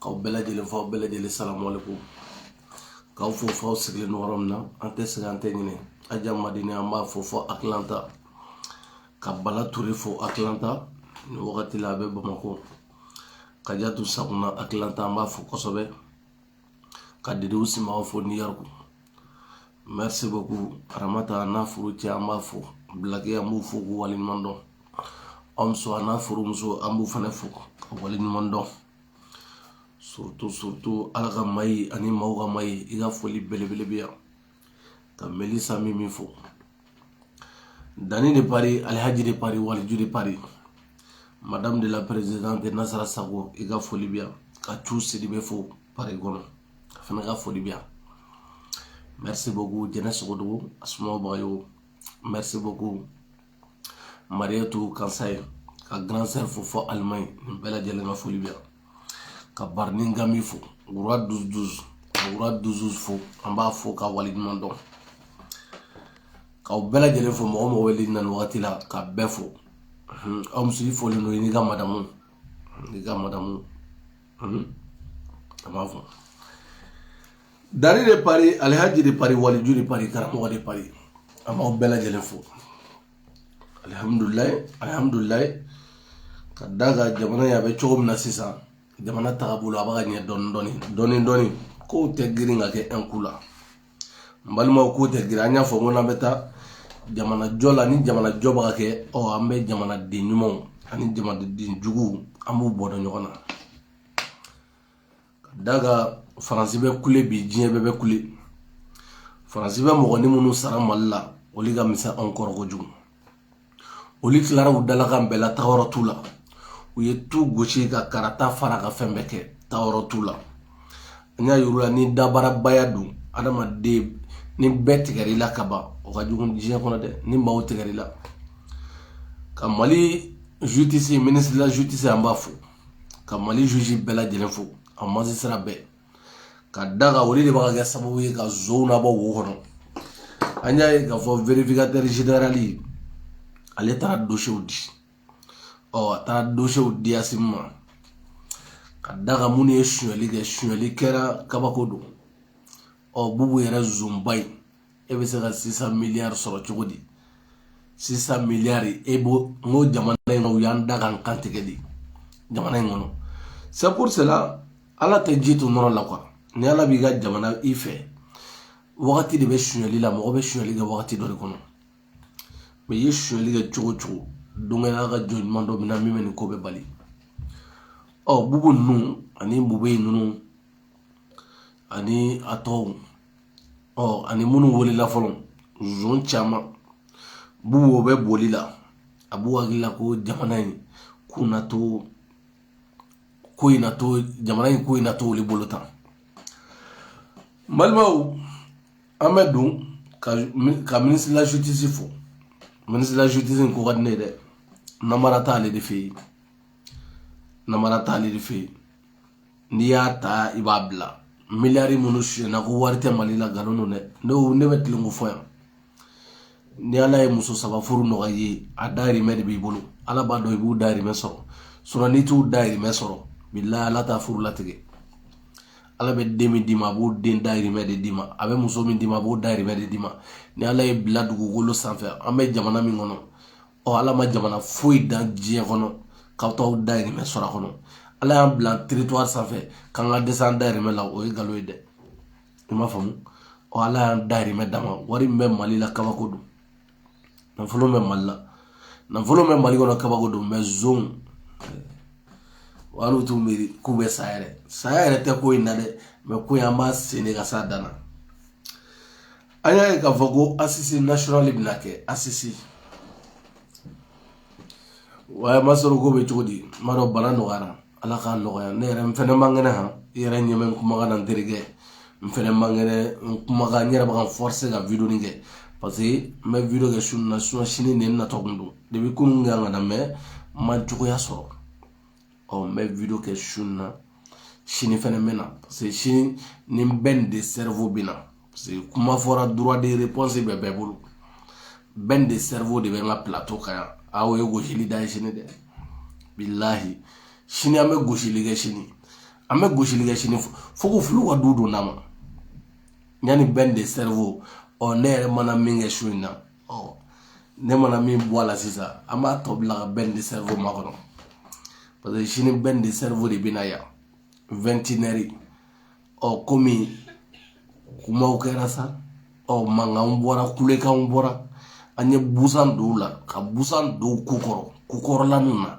k'aw bɛɛ lajɛlen fo aw bɛɛ lajɛlen salamu aleyikum k'aw fo fɔ aw sigilen don yɔrɔ min na an tɛ sɛgɛn an tɛ ɲinɛ aja madini an b'a fo fɔ atlanta ka bala ture fo atlanta nin wagati la a bɛ bamakɔ kajatu sakuna atlanta an b'a fo kosɛbɛ ka didiw simaw fo new york merci beaucoup aramata n'a furucɛ an b'a fo bilaki an b'u fo k'u waleɲuman dɔn omso a n'a furumuso an b'u fana fo ka waleɲuman dɔn surtout surtout ala ka mayi ani maaw ka mayi i ka foli belebele bɛ yan ka melisa mimi fo dani de paris alihaji de paris waliju de paris madame de la présidente nasara sago i ka foli bi yan ka cu sidibe fo pari kɔnɔ a fana ka foli bi yan merci beaucoup jɛnɛ sogodogo asumawu bagayɔgɔ merci beaucoup mariatu kansaye ka grand sœur fo fɔ allemagne nin bɛɛ lajɛlen ka foli bi yan ka baruni gami fo roi douze douze ka roi douze fo an b'a fo ka waleɲuman dɔn k'aw bɛɛ lajɛlen fo mɔgɔ mɔgɔ wele na nin wagati la ka bɛɛ fo omso i folen don i n'i ka madamu n'i ka madamu an b'a fo dari de paris alihaji de paris waliju de paris karamɔgɔ de paris an b'aw bɛɛ lajɛlen fo alihamudulila alihamudulila ka da ka jamana ye a bɛ cogo min na sisan jamana tagabolo a b'a ka ɲɛ dɔɔni dɔɔni dɔɔni dɔɔni kow tɛ girin ka kɛ un coup la n balimaw kow tɛ girin an y'a fɔ n ko n'an bɛ taa jamana jɔ la ni jamana jɔ b'a kɛ ɔ an bɛ jamanaden ɲumanw ani jamanaden juguw an b'u bɔ dɔn ɲɔgɔn na ka da ka faransi bɛ kule bi diɲɛ bɛɛ bɛ kule faransi bɛ mɔgɔnin minnu sara mali la olu ka misɛn anw kɔrɔ kojugu olu tilara u dalakan bɛɛ la taayɔrɔ t'u la u ye tu gosi ka karata fara ka fɛn bɛɛ kɛ taayɔrɔ t'u la an y'a yir'u la ni dabarabaya don adamaden ni bɛɛ tigɛra i la ka ban o ka jugu diɲɛ kɔnɔ dɛ ni maaw tigɛra i la ka mali justice ministre de la justice an b'a fo ka mali juge bɛɛ lajɛlen fo a magistrat bɛɛ ka da ka olu de b'a kɛ sababu ye ka zonw nabɔ wo kɔnɔ an y'a ye k'a fɔ vérificateur général ale taara dosiyew di ɔ a taara dosiyew di asimi ma ka da ka minnu ye sonyali kɛ sonyali kɛra kabako don ɔ bubu yɛrɛ zonba ye e bɛ se ka six cents milliards sɔrɔ cogo di six cents milliards e b'o n ko jamana in na u y'an da k'an kantigɛ de jamana in kɔnɔ c'est pour cela ala tɛ ji to nɔnɔ la quoi ni ala b'i ka jamana in fɛ wagati de bɛ sonyali la mɔgɔ bɛ sonyali kɛ wagati dɔ de kɔnɔ mais i ye sonyali kɛ cogo o cogo don kelen ala ka jɔn ɲuman dɔ bɛ na min bɛ nin ko bɛɛ bali ɔ bubu ninnu ani bube ninnu ani a tɔw ɔ ani minnu wulila fɔlɔ zon caman b'u o bɛ boli la a b'u hakili la ko jamana in ko na to ko in na to jamana in ko in na to olu bolo tan balimaw an bɛ don ka ministre de la justice fo ministre de la justice ko ka di ne ye dɛ namara t'ale de fɛ yen namara t'ale de fɛ yen n'i y'a ta i b'a bila miliyari minnu sonyana ko wari tɛ mali la nkalon don dɛ ne ne bɛ tilenko fɔ yan ni ala ye muso saba furu nɔgɔya i ye a dayirimɛ de b'i bolo ala b'a dɔn i b'u dayirimɛ sɔrɔ sinon n'i t'u dayirimɛ sɔrɔ bilahi ala t'a furu latigɛ ala bɛ den min d'i ma a b'o den dayirimɛ de d'i ma a bɛ muso min d'i ma a b'o dayirimɛ de d'i ma ni ala y'i bila dugukolo sanfɛ an bɛ jamana min kɔnɔ ɔ ala ma jamana foyi dan diɲɛ kɔnɔ k'aw t'aw dayirimɛ sɔrɔ a kɔnɔ ala y'an bila territoire sanfɛ k'an ka dɛsɛ an dayirimɛ la o ye nkalon ye dɛ i m'a faamu ɔ ala y'an dayirimɛ d'an ma wari min bɛ mali la kabako don nafolo bɛ mali la nafolo bɛ mali kɔnɔ kabako don mais zon hali u t'u miiri k'u bɛ sa yɛrɛ saya yɛrɛ tɛ ko in na dɛ mais ko in an b'a sɛnɛ ka s'a dan na an y'a ye k'a fɔ ko assises nationales bɛna kɛ assises wa ma sɔrɔ ko bɛ cogo di n b'a dɔn bana nɔgɔyara ala k'a nɔgɔya ne yɛrɛ n fɛnɛ man kɛnɛ han i yɛrɛ ɲɛ bɛ n kumakan na n terikɛ n fɛnɛ man kɛnɛ n kumakan n yɛrɛ bɛ ka n forcer ka video nin kɛ parce que n bɛ video kɛ su in na sinon sini de n natɔ kun don depuis kunun n kan ka na mais n ma cogoya sɔrɔ ɔ n bɛ video kɛ su in na sini fɛnɛ n bɛ na parce que sini ni ben le cerveau bɛ na parce que kuma fɔra droit de réponse bɛ bɛɛ bolo ben le cerveau de bɛ n ka plateau kan yan aw ye gosili da ye sini dɛ bilahi sini an bɛ gosili kɛ sini an bɛ gosili kɛ sini fo ko fulu ka du don n'a ma yanni ben le cerveau ɔ ne yɛrɛ mana min kɛ su in na ɔ ne mana min bɔ a la sisan an b'a tɔ bila ka ben le cerveau makɔnɔ parce que sini ben le cerveau de bɛna yan vingt et une heures ɔ komi kumaw kɛra sa ɔ mankanw bɔra kulekanw bɔra an ye busan don u la ka busan don kukɔrɔ kukɔrɔlaniw na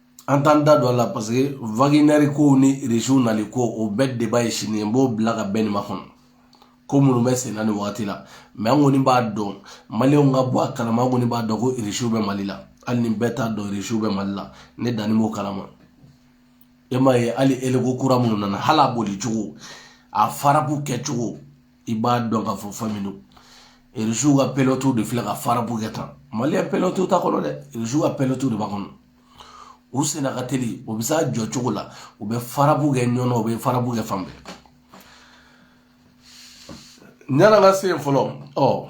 an t'an da don a la parce que waginɛri kow ni irisiw nali ko o bɛɛ deba ye sini ye n b'o bila ka bɛn nin ma kɔnɔ ko minnu bɛ senna nin wagati la mɛ an kɔni b'a dɔn maliyɛnw ka bɔ a kalama an kɔni b'a dɔn ko irisiw bɛ mali la hali ni bɛɛ t'a dɔn irisiw bɛ mali la ne danni b'o kalama e m'a ye hali eleko kura minnu nana hali a boli cogo a farabu kɛcogo i b'a dɔn k'a fɔ fɛn min don irisiw ka pilɔtiw de filɛ ka farabu kɛ tan maliyɛn pilɔtiw t'a kɔnɔ dɛ irisiw ka pilɔtiw de b'a kɔnɔ u senna ka teli o bɛ s'a jɔ cogo la u bɛ farabu kɛ ɲɔnɔ u bɛ farabu kɛ fan bɛɛ yan'an ka se yen fɔlɔ ɔ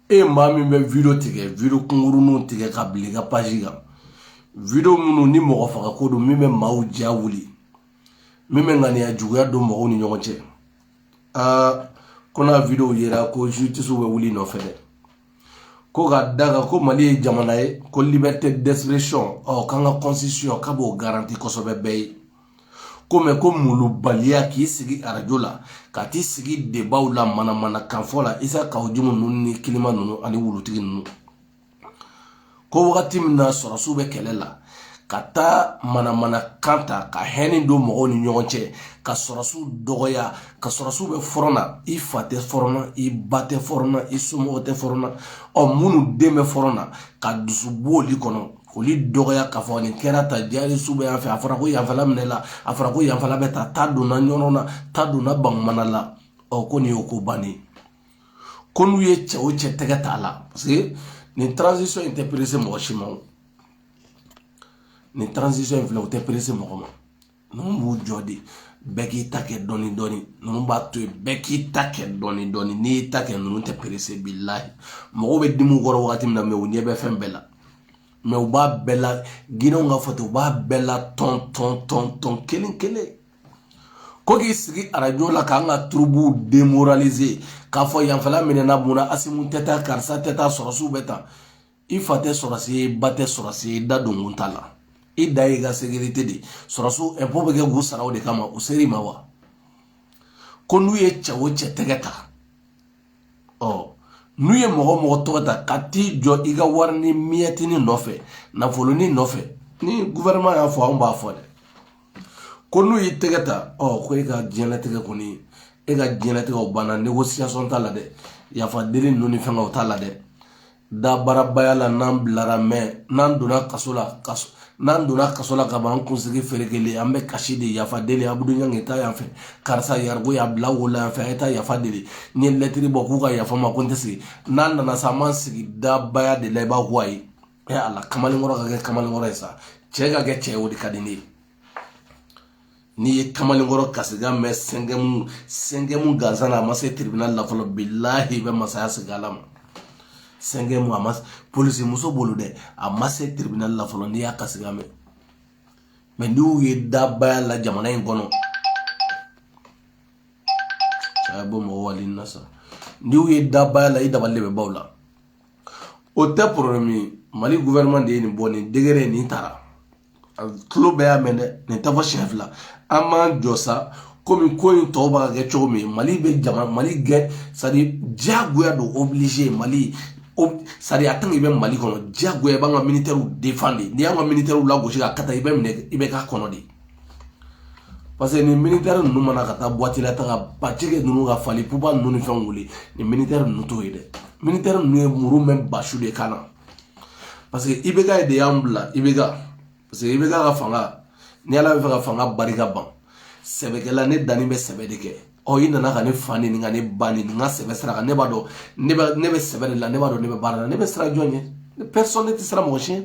e maa min bɛ video tigɛ video kunkuruninw tigɛ ka bila i ka paji kan video minnu ni mɔgɔ faga ko don min bɛ maaw ja wuli min bɛ ŋaniya juguya don mɔgɔw ni ɲɔgɔn cɛ aa ko n'a video yera ko justice bɛ wul'i nɔfɛ dɛ ko ka d'a kan ko mali ye jamana ye ko liberté d'expression ɔ k'an ka constitution k'a b'o garanti kosɛbɛ bɛɛ ye ko mɛ ko molobaliya k'i sigi arajo la ka t'i sigi debaw la manamana kan fɔ la isa kawu jimu ninnu ni kilema ninnu ani wulutigi ninnu ko wagati min na sɔrɔsiw bɛ kɛlɛ la ka taa manamana kan ta ka hɛni don mɔgɔw ni ɲɔgɔn cɛ ka sɔrɔsiw dɔgɔya ka sɔrɔsiw bɛ fɔrɔn na i fa tɛ fɔrɔn na i ba tɛ fɔrɔn na i somɔgɔ tɛ fɔrɔn na ɔ minnu den bɛ fɔrɔn na ka dusu b'olu kɔnɔ k'olu dɔgɔya k'a fɔ nin kɛra ta jari su bɛ yan fɛ a fɔra ko yanfɛla minɛla a fɔra ko yanfɛla bɛ ta ta donna ɲɔnɔ na ta donna bangumana la ɔ ko nin y'o ko bannen ko n'u ye cɛ o cɛ tɛgɛ t'a la parce que nin transition in tɛ perese mɔgɔ si ma o nin transition in filɛ o tɛ perese mɔgɔ ma ninnu b'u jɔ de bɛɛ k'i ta kɛ dɔɔni dɔɔni ninnu b'a to yen bɛɛ k'i ta kɛ dɔɔni dɔɔni n'i y'i ta kɛ ninnu tɛ perese bilayi mɔgɔw bɛ dimi u kɔrɔ wagati min na mɛ u ɲɛ bɛ fɛn bɛɛ la mɛ u b'a bɛɛ la ginɛw k'a fɔ ten u b'a bɛɛ la tɔn tɔn tɔn tɔn kelen kelen ko k'i sigi arajo la k'an ka turubuw demoralize k'a fɔ yanfɛla minɛna mun na asimi tɛ taa karisa tɛ taa sɔrɔsiw bɛ taa i fa tɛ sɔrɔsi y'i ba tɛ sɔrɔsi y'i da donkun t'a la i da y'i ka sekirite de sɔrɔsiw ɛnpo bɛ kɛ k'u sara o de kama u ser'i ma wa ko n'u ye cɛ o cɛ tɛgɛ ta ɔ n'u ye mɔgɔ mɔgɔ tɔgɔ ta ka t'i jɔ i ka wari ni miyɛtini nɔfɛ nafoloni nɔfɛ ni guvɛrɛnɛman y'a fɔ anw b'a fɔ dɛ ko n'u y'i tɛgɛ ta ɔ ko e ka diɲɛlatigɛ kɔni e ka diɲɛlatigɛw banna negosiyasɔn t'a la dɛ yafa deli ninnu ni fɛngɛw t'a la dɛ dabarabaya la n'an bilara mɛ n'an donna kaso la kaso n'an donna kaso la ka ban an kunsigi ferekelen an bɛ kasi de yafa deli abudu ɲangi ta yan fɛ karisa yarigo y'a bila wo la yan fɛ a ye taa yafa deli n ye lɛtiri bɔ k'u ka yafa ma ko n tɛ sigi n'an nana sa an b'an sigi dabaya de la i b'a fɔ ayi ɛ ala kamalenkɔrɔ ka kɛ kamalenkɔrɔ ye sa cɛ ka kɛ cɛ ye o de ka di ne ye n'i ye kamalenkɔrɔ kasikan mɛn sɛnkɛmu sɛnkɛmu gansan na a ma se tiribinali la fɔlɔ bilahi i bɛ masaya segin ala ma sɛnkɛmu a ma polisi muso bolo dɛ a ma se tiribinali la fɔlɔ n'i y'a kasikan mɛn mɛ n'i y'u ye dabaya la jamana in kɔnɔ a ye bɔ mɔgɔ wali na sa n'i y'u ye dabaya la i dabali de bɛ baw la o tɛ porobilɛmu ye mali guvɛrɛnman de ye nin bɔ nin degere nin taara a tulo bɛɛ y'a mɛn dɛ nin tɛ fɔ siɲɛ fila an m'an jɔ sa komi ko in tɔw b'a kɛ cogo min mali bɛ jama mali gɛn sadi diyagoya don obligé mali sadi a tant que i bɛ mali kɔnɔ diyagoya i b'an ka militɛriw défendre n'i y'an ka militɛriw lagosi ka kata i bɛ minɛ i bɛ k'a kɔnɔ de parce que nin militɛri ninnu ma na ka taa buwati la taga bacike ninnu ka fali puba ninnu ni fɛnw wuli nin militɛri ninnu t'o ye dɛ militɛri ninnu ye muru mɛn basu de kan na parce que IBK de y'an bila IBK parce que IBK ka fanga ni ala bɛ fɛ ka fanga barika ban sɛbɛkɛla ne danni bɛ sɛbɛ de kɛ ɔ i nana ka ne fa nɛni ka ne ba nɛni ka sɛbɛ sira kan ne b'a dɔn ne bɛ ne bɛ sɛbɛ de la ne b'a dɔn ne bɛ baara la ne bɛ siran jɔn ɲɛ ne personne ne tɛ siran mɔgɔ si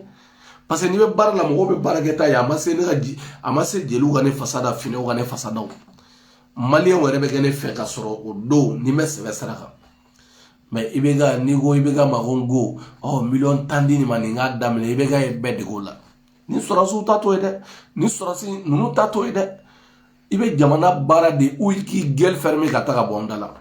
parce que n'i bɛ baara la mɔgɔw bɛ baara kɛta ye a ma se ne ka ji a ma se jeliw ka ne fasa da finɛw ka ne fasa da maliyɛnw yɛrɛ bɛ kɛ ne fɛ ka sɔrɔ o don ni n bɛ sɛbɛ sira kan mɛ IBK n'i ko IBK ma ko ko ɔ miliyɔn tan di nin ma nin k'a daminɛ IBK ye bɛɛ dege o la ni sɔrɔsiw ta t'o ye dɛ ni sɔrɔsi ninnu ta t'o ye dɛ i bɛ jamana baara de ou k'i gueule fermer ka taa ka bɔ an da la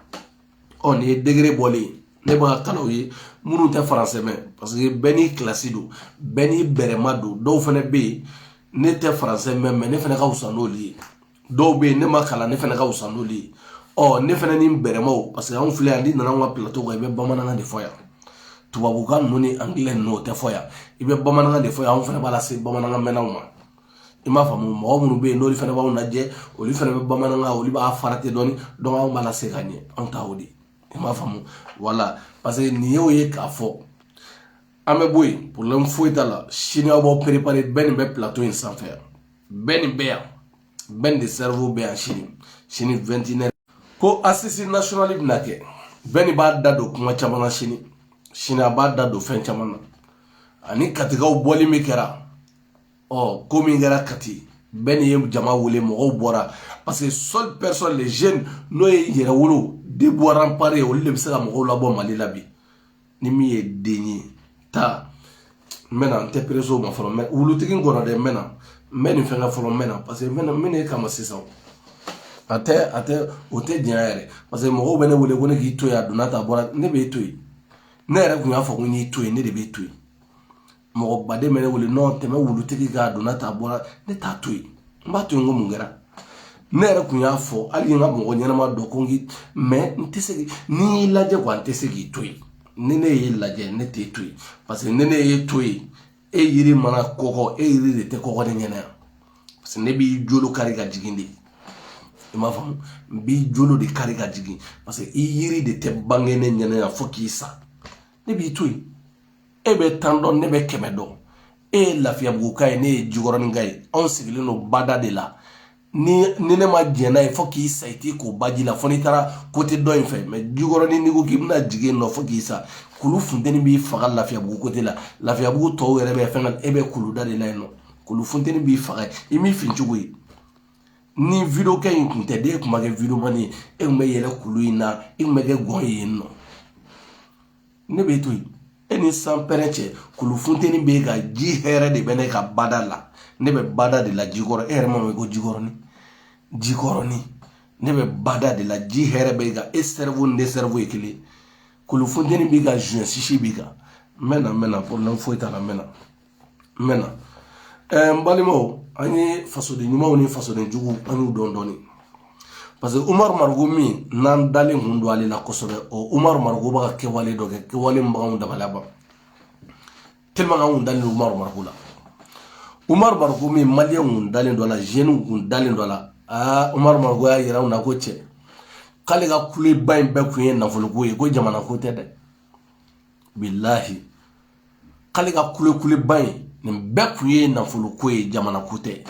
ɔ nin ye degere bɔlen ye ne b'a kalan aw ye minnu tɛ faransɛ mɛn parce que bɛɛ n'i kilasi don bɛɛ n'i bɛrɛma don dɔw fana bɛ yen ne tɛ faransɛ mɛn mɛ ne fana ka fisa n'olu ye dɔw bɛ yen ne ma kalan ne fana ka wusa n'olu ye ɔ ne fana ni n bɛrɛmaw parce que anw filɛ yan n'i nana anw ka pilato kan i bɛ bamanankan de fɔ yan tubabukan ninnu ni angilɛ ninnu o tɛ fɔ yan i bɛ bamanankan de fɔ yan anw fana b'a lase bamanankan mɛnnaw ma i m'a faamu mɔgɔ minnu bɛ yen n'olu fana b'anw lajɛ olu fana bɛ bamanankan olu b'a farati dɔɔni dɔnku anw b'a lase ka ɲɛ anw ta o de i m'a faamu wala parce que nin y'o ye k'a fɔ an bɛ bɔ yen problème foyi t'a la sini aw b'aw perepare Ben bɛ pilato in sanfɛ yan Ben bɛ yan Ben le cerveau bɛ yan sini sini vɛntinɛ ko asisi nasionali bɛna kɛ Ben b'a da don kuma caman na sini sini a b'a da don fɛn caman na ani katikaw bɔli min kɛra ɔ ko min kɛra kati Ben ye jama wele mɔgɔw bɔra parce que seule personne les jeunes n'o ye yɛrɛwolo debout remparts ye olu de bɛ se ka mɔgɔw labɔ mali la bi ni min ye den ye taa n bɛna n tɛ perese o ma fɔlɔ mɛ wulutigi n kɔnɔ dɛ n bɛna n bɛ nin fɛn kɛ fɔlɔ n bɛna paseke n bɛna n bɛ n'e kama sisan a tɛ a tɛ o tɛ janya yɛrɛ paseke mɔgɔw bɛ ne wele ko ne k'i to yen a donna ta bɔra ne b'e to yen ne yɛrɛ kun y'a fɔ ko n y'i to yen ne de b'e to yen mɔgɔ baden bɛ ne wele nɔn tɛmɛ wulutigi k'a donna ta bɔra ne t'a to yen n b'a to yen ko mun kɛra ne yɛrɛ kun y'a fɔ hali n ka mɔgɔ ɲɛnama dɔ ko n mɛ n tɛ se ni y'i lajɛ wa n tɛ se k'i to yen ni ne y'i lajɛ ne t'e to yen paseke ni ne y'e to yen e yiri mana kɔgɔ e yiri de tɛ kɔgɔ ne ɲɛna yan paseke ne b'i jolo kari ka jigin de i m'a faamu n b'i jolo de kari ka jigin paseke i yiri de tɛ bange ne ɲɛna yan fo k'i sa ne b'i to yen e bɛ tan dɔn ne bɛ kɛmɛ dɔn e ye lafiyabuguka ye ne ye jikɔrɔninka ye anw sigilen don bada de la ni ni ne ma jɛn n'a ye fo k'i sa i t'i ko baji la fo n'i taara kote dɔ in fɛ mɛ jikɔrɔnin n'i ko k'i bɛna jigin nɔ fo k'i sa kulu funteni b'i faga lafiyabugu kote la lafiyabugu tɔw yɛrɛ bɛ fɛn e bɛ kuluda de la yen nɔ kulu funteni b'i faga i m'i fin cogo ye ni video kɛ in kun tɛ de e kun ma kɛ videomani ye e kun bɛ yɛlɛ kulu in na e kun bɛ kɛ gɔn ye yen nɔ ne b'e to yen e ni sanpɛrɛn cɛ kulu funteni b'e kan ji hɛrɛ de bɛ ne kan bada la ne bɛ bada de la jikɔrɔ e yɛrɛ m'a mɛn ko jikɔrɔni jikɔrɔni ne bɛ bada de la ji hɛrɛ bɛ n kan e sɛrivo ni ne sɛrivo ye kelen kulu funteni b'e kan zuwɛn sisi b'e kan n bɛ na n bɛ na porobilɛmu foyi t'a la n bɛ na n bɛ na ɛɛ n balimaw an ye fasoden ɲumanw ni fasoden juguw an y'u dɔn dɔɔni parce que umaru mariko min n'an dalen kun don ale la kosɛbɛ o umaru mariko bɛ ka kɛwale dɔ kɛ kɛwale min b'anw dabaliya ban tellement anw dalen don umaru mariko la umaru mariko min maliyɛnw kun dalen don a la zeniw kun dalen don a la aa umaru mariko y'a yira anw na ko cɛ k'ale ka kuleba in bɛɛ kun ye nafoloko ye ko jamanako tɛ dɛ bilahi k'ale ka kulekuleba in nin bɛɛ kun ye nafolo ko ye jamana ko tɛ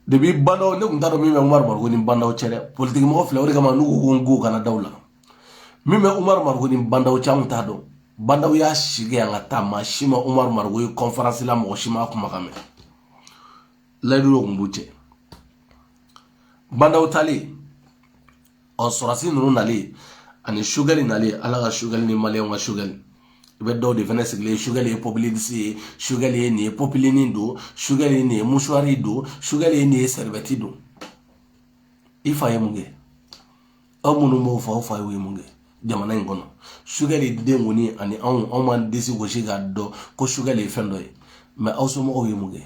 depi bandaw ne kun t'a dɔn min bɛ umaru mariko ni bandaw cɛ dɛ politiki mɔgɔ filɛ o de kama n'u ko ko n ko kana da u la min bɛ umaru mariko ni bandaw cɛ an kun t'a dɔn bandaw y'a sigi yan ka taa maa si ma umaru mariko ye kɔnferansi la mɔgɔ si m'a kumakan mɛn layidu dɔ kun b'u cɛ bandaw taalen ɔ sɔrɔdasi ninnu nalen ani sugɛli nalen ala ka sugɛli ni maliyɛnw ka sugɛli i bɛ dɔw de fana sigilen sugɛli ye pɔpilisi ye sugɛli ye nin ye pɔpilini don sugɛli ye nin ye musuwari don sugɛli ye nin ye sɛribɛti don i fa ye mun kɛ aw minnu b'o fɔ aw fa ye mun kɛ jamana in kɔnɔ sugɛli den kɔni ani anw anw b'an disi gosi k'a dɔn ko sugɛli ye fɛn dɔ ye mɛ aw somɔgɔw ye mun kɛ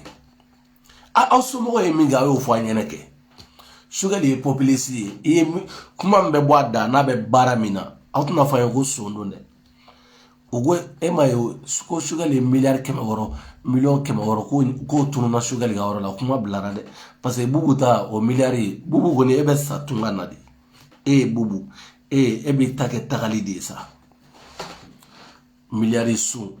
aw somɔgɔ ye min kɛ a y'o fɔ an ɲɛna kɛ sogɛli ye popilisiti ye i ye kuma min bɛ bɔ a da n'a bɛ baara min na aw tɛna fɔ an ye ko son don dɛ u ko e ma ye ko sogɛli ye miliyari kɛmɛ wɔɔrɔ miliyɔn kɛmɛ wɔɔrɔ ko k'o tununna sogɛli ka yɔrɔ la kuma bilara dɛ paseke bubu ta o miliyari ye bubu kɔni e bɛ sa tunga na de e ye bubu e e b'i ta kɛ tagali de ye sa miliyari sun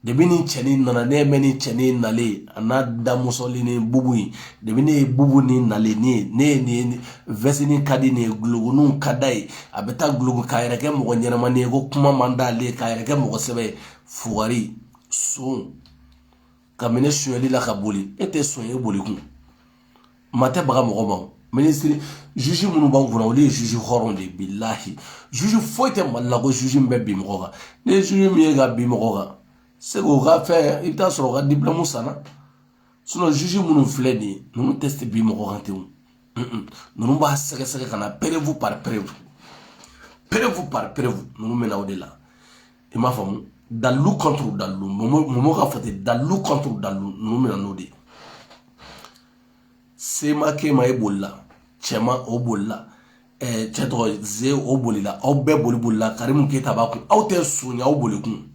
debi ni cɛnin nana ne bɛ ni cɛnin nalen a n'a damusoli ni bubu ye debi ne ye bubu ni nalen ne ye ne ye nin vɛsini ka di nin ye guloguniw ka da ye a bɛ taa gulogu k'a yɛrɛ kɛ mɔgɔ ɲɛnamani ye ko kuma man d'ale ye k'a yɛrɛ kɛ mɔgɔ sɛbɛ ye fugari son ka minɛ sonyali la ka boli e tɛ son ye boli kun maa tɛ baga mɔgɔ ma minisiri juge minnu b'anw kunna olu ye juge hɔrɔn de ye bilahi juge foyi tɛ mali la ko juge min bɛ bin mɔgɔ kan n'i ye juge min ye ka bin mɔgɔ kan sɛ k'o ka fɛn i bɛ taa sɔrɔ o ka diplɔmu sanna sinɔn juge minnu filɛ nin ye ninnu tɛ se bin mɔgɔ kan ten ninnu b'a sɛgɛsɛgɛ ka na perevu par perevu perevu par perevu ninnu bɛ na o de la i m'a faamu dalilu kɔnturu dalilu mɔmɔ ka fɔ ten dalilu kɔnturu dalilu ninnu bɛ na n'o de ye semakɛ ma e bolila cɛman o bolila cɛ tɔgɔ ze o bolila aw bɛɛ boli bolila karimu keyita b'a kun aw tɛ son ye aw boli kun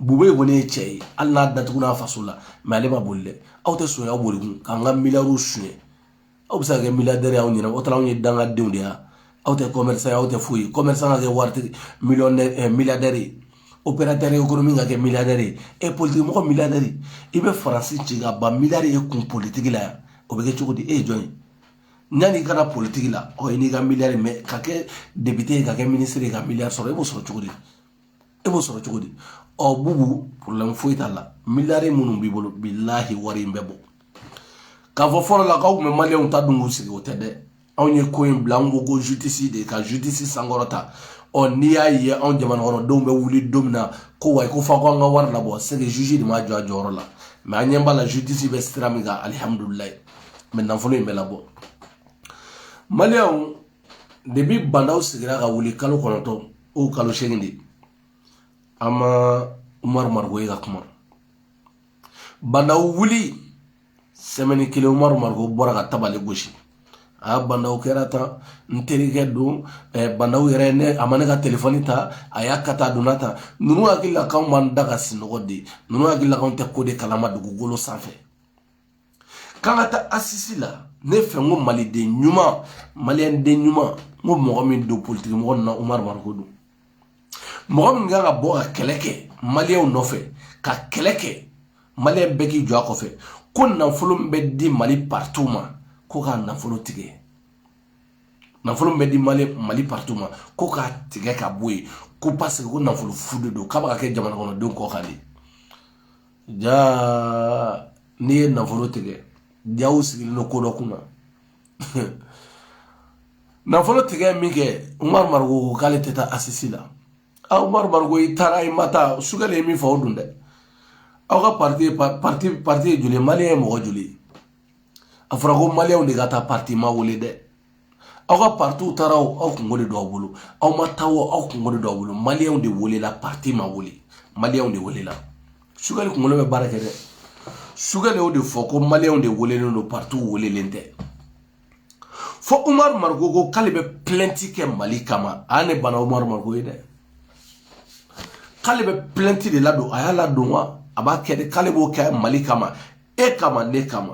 bubɛyi kɔni ye cɛ ye hali n'a datuguna a faso la mɛ ale ma boli dɛ aw tɛ son ye aw boli kun k'an ka miliyariw suɲɛ aw bɛ se ka kɛ miliyaridɛri y'aw ɲɛna o taara anw ye dangadenw de ye aw tɛ komɛrisan ye aw tɛ foyi ye komɛrisan ka kɛ waritigi miliyaridɛri ye operatɛri ekonomiki ka kɛ miliyaridɛri ye e politikimɔgɔ miliyaridɛri i bɛ faransi ci ka ban miliyaridɛri ye kun politigi la yan o bɛ kɛ cogo di e ye jɔn ye yanni i ka na politigi la ɔ n'i ka miliyari mɛ ka kɛ depite ye ka kɛ minisiri ye ka miliyari sɔrɔ i b'o sɔrɔ cogo di e b'o sɔrɔ cogo di ɔ bubu porobilɛmu foyi t'a la miliyari minnu b'i bolo bilahi wari in bɛ bɔ k'a fɔ fɔlɔ la k'aw tun bɛ maliyɛnw ta dun k'u sigi o tɛ dɛ anw ye ko in bila anw ko ko jutisi de ka jutisi sankɔrɔta ɔ n'i y'a ye anw jamanakɔnɔdenw bɛ wuli don min na ko wayi ko fɔ ko an ka wari labɔ sɛ ke jutisi de ma jɔ a jɔyɔrɔ la mɛ an ɲɛ b'a la jutisi bɛ sira min kan alihamudulilayi mɛ nafolo in bɛ labɔ maliyɛnw debi bandaw sigira ka wuli kalo kɔnɔntɔn o kalo seegin de an ma umaru mariko ye ka kuma bandaw wuli sɛmɛni kelen umaru mariko bɔra ka tabali gosi a bandaw kɛra tan n terikɛ don bandaw yɛrɛ ne a ma ne ka telefɔni ta a y'a ka taa donna tan ninnu hakili la k'anw b'an da ka sinɔgɔ de ninnu hakili la k'anw tɛ ko de kalama dugukolo sanfɛ k'an ka taa asisi la ne fɛ n ko maliden ɲuman maliyɛnden ɲuman n ko mɔgɔ min don politiki mɔgɔ nin na umaru mariko don mɔgɔ min kan ka bɔ ka kɛlɛ kɛ maliyɛnw nɔfɛ ka kɛlɛ kɛ maliyɛn bɛɛ k'i jɔ a kɔfɛ ko nafolo min bɛ di mali partiw ma ko k'a nafolo tigɛ nafolo min bɛ di mali mali partiw ma ko k'a tigɛ ka bɔ yen ko paseke ko nafolo fu de don k'a bɛ ka kɛ jamana kɔnɔdenw kɔ kan de jaa n'i ye nafolo tigɛ jaa u sigilen don ko dɔ kunna nafolo tigɛ min kɛ umaru mariko ko k'ale tɛ taa asisi la a umaru mariko i taara i ma taa sogɛli ye min fɔ o don dɛ aw ka parti ye pa- parti parti ye joli ye maliyɛn ye mɔgɔ joli ye a fɔra ko maliyɛnw de ka taa parti ma wele dɛ aw ka partiw taara o aw kunko de don aw bolo aw ma taa o aw kunko de don aw bolo maliyɛnw de welela parti ma wele maliyɛnw de welela sogɛli kunkolo bɛ baara kɛ dɛ sogɛli y'o de fɔ ko maliyɛnw de welelen don partiw welelen tɛ fo umaru mariko ko k'ale bɛ pilɛnti kɛ mali kama a ne bana umaru mariko ye dɛ k'ale bɛ pilɛnti de ladon a y'a ladon wa a b'a kɛ de k'ale b'o kɛ mali kama e kama ne kama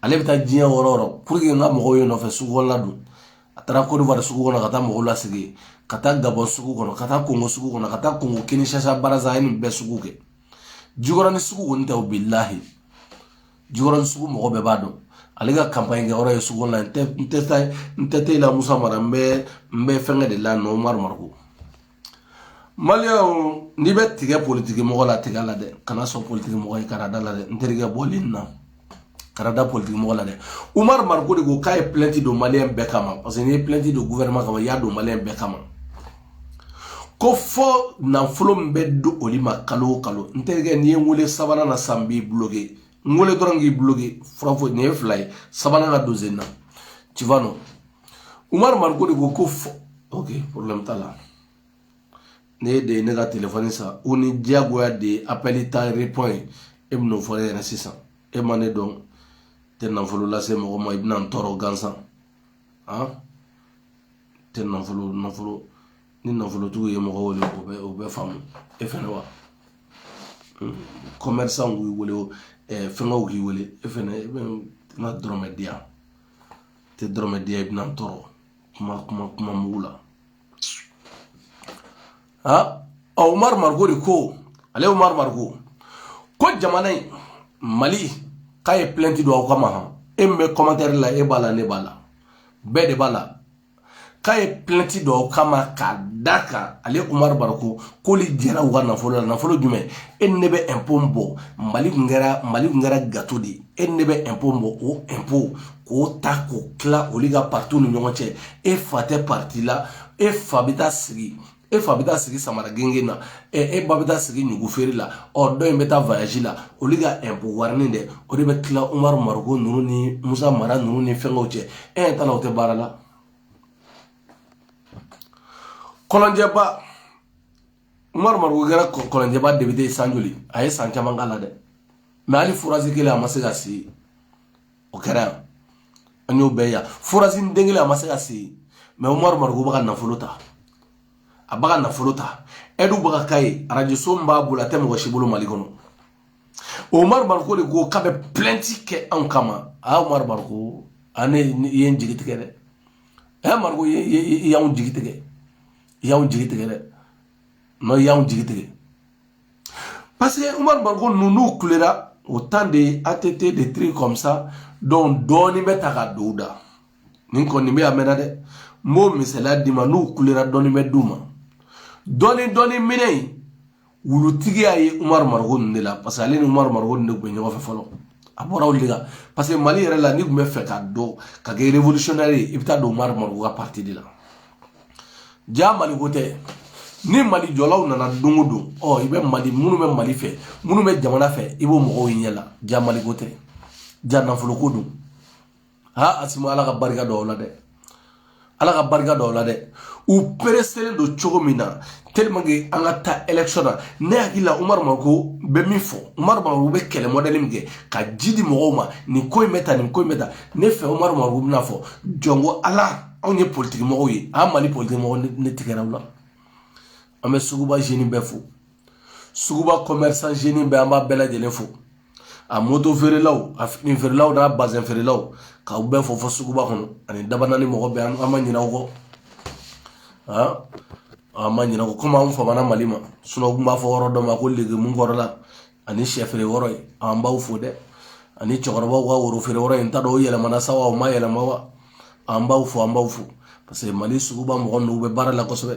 ale bɛ taa diɲɛ yɔrɔ o yɔrɔ puruke n ka mɔgɔw ye nɔfɛ sugu la don a taara kɔdiwari sugu kɔnɔ ka taa mɔgɔw lasigi ka taa gabɔn sugu kɔnɔ ka taa kongo sugu kɔnɔ ka taa kongo kinsasa baraza a ye nin bɛɛ sugu kɛ jikɔrɔni sugu kɔni tɛ o bilahi jikɔrɔni sugu mɔgɔ bɛɛ b'a dɔn ale ka kanpaɲi kɛ yɔrɔ ye sugu la n tɛ n tɛ taa n tɛ te la musa mara n bɛ n bɛ fɛnkɛ de la umaru mariko Maliens n'i bɛ tigɛ politiki mɔgɔ la tigɛ a la dɛ kana sɔn politiki mɔgɔ ye kana da a la dɛ n terikɛ bɔ ligne na kana da politiki mɔgɔ la dɛ Umaru Mariko de ko k'a ye plainte don Malien bɛɛ kama parce que n'i ye plainte don gouvernement kama i y'a don Malien bɛɛ kama ko fɔ nafolo min bɛ di olu ma kalo o kalo n terikɛ n'i ye n wele sabanan na sa n b'i bloqué n wele dɔrɔn k'i bloqué fura foyi nin ye fila ye sabanan ka don sen na tu vois non umaru mariko de ko ko fɔ ok problème t'a la ne yɛrɛ de ye ne ka telefɔni san u ni diyagoya de ye apɛli ta repɔn ye e bɛn'o fɔ ne ɲɛna sisan e ma ne dɔn tɛ nafolo lase mɔgɔ ma i bɛna n tɔɔrɔ gansan han tɛ nafolo nafolo ni nafolotigiw ye mɔgɔ wele o bɛ o bɛ faamu e fɛnɛ wa commerçant k'i wele fɛnkɛw k'i wele e fɛnɛ i bɛ n ka dɔrɔmɛ di yan tɛ dɔrɔmɛ di yan i bɛna n tɔɔrɔ kuma kuma kuma mugu la ha ɔ umaru mariko de ko ale umaru mariko ko jamana in mali k'a ye pilɛnti don aw kama han e min bɛ kɔmantɛri la e b'a la ne b'a la bɛɛ de b'a la k'a ye plɛnti don u kama k'a da kan ale umaru mariko k'olu jɛra u ka nafolo la nafolo jumɛn e ni ne bɛ ɛnpo bɔ mali kun kɛra mali kun kɛra gato de ye e ni ne bɛ ɛnpo bɔ o ɛnpo k'o ta k'o tila olu ka paritiw ni ɲɔgɔn cɛ e fa tɛ pariti la e fa bɛ taa sigi e fa bɛ taa sigi samara gengen na e ba bɛ taa sigi ɲugu feere la ɔ dɔ in bɛ taa voyage la olu ka ɛnpo warinin dɛ o de bɛ tila umaru mariko ninnu ni musa mara ninnu ni fɛnkɛw cɛ e ɲɛ t'a la o tɛ baara la kɔlɔnjɛba umaru mariko kɛra kɔlɔnjɛba depite san joli a ye san caman k'a la dɛ mɛ hali forazi kelen a ma se k'a sen o kɛra yan an y'o bɛɛ yan forazi den kelen a ma se k'a sen mɛ umaru mariko bɛ ka nafolo ta a bɛ ka nafolo ta e dun bɛ ka k'a ye arajoso min b'a bolo a tɛ mɔgɔ si bolo mali kɔnɔ umaru mariko de ko k'a bɛ plɛnti kɛ anw kama a umaru mariko ani i ye n jigi tigɛ dɛ a umaru mariko i y'anw jigi tigɛ i y'anw jigi tigɛ dɛ nɔ i y'anw jigi tigɛ parce que umaru mariko ninnu n'u kulela au temps de att des trucs comme ça donc dɔɔnin bɛ ta ka don u da nin ko nin bɛɛ a mɛnna dɛ n b'o misaliya d'i ma n'u kulela dɔɔnin bɛ d'u ma dɔɔnin dɔɔnin minɛ in wulutigiya ye umaru mariko ninnu de la parce que ale ni umaru mariko ninnu de tun bɛ ɲɔgɔn fɛ fɔlɔ a bɔra olu de la parce que mali yɛrɛ la n'i tun b'a fɛ ka don ka kɛ révolutionnaire ye i bɛ taa don umaru mariko ka parti de la jaa maliko tɛ ni mali jɔlaw nana don o don ɔ i bɛ mali minnu bɛ mali fɛ minnu bɛ jamana fɛ i b'o mɔgɔw ɲɛ la jaa maliko tɛ jaa nafoloko don ha asimi ala ka barika don u la dɛ ala ka barika don u la dɛ u pereselen don cogo min na tellement que an ka taa election na ne hakili la umaru mariko bɛ min fɔ umaru mariko bɛ kɛlɛ mɔdɛli min kɛ ka ji di mɔgɔw ma nin ko in bɛ ta nin ko in bɛ ta ne fɛ umaru mariko bɛna fɔ jɔn ko ala anw ye politiki mɔgɔw ye an mali politiki mɔgɔ ne tigɛra u la an bɛ suguba zeni bɛɛ fo suguba commerçant zeni bɛɛ an b'a bɛɛ lajɛlen fo a moto feerelaw a fini feerelaw n'a bazɛn feerelaw k'aw bɛɛ fo fo suguba kɔnɔ ani dabanani mɔgɔ bɛɛ an ma ɲinɛ o kɔ an ma ɲinɛ o kɔ komi an famana mali ma u kun b'a fɔ yɔrɔ dɔ ma ko legimu kɔrɔla ani sɛ feere yɔrɔ ye an b'aw fo dɛ ani cɛkɔrɔbaw ka woro feere yɔrɔ n t'a dɔn o yɛlɛmana sa wa o ma yɛlɛma wa an b'aw fo an b'aw fo parce que mali suguba mɔgɔ ninnu bɛ baara la kosɛbɛ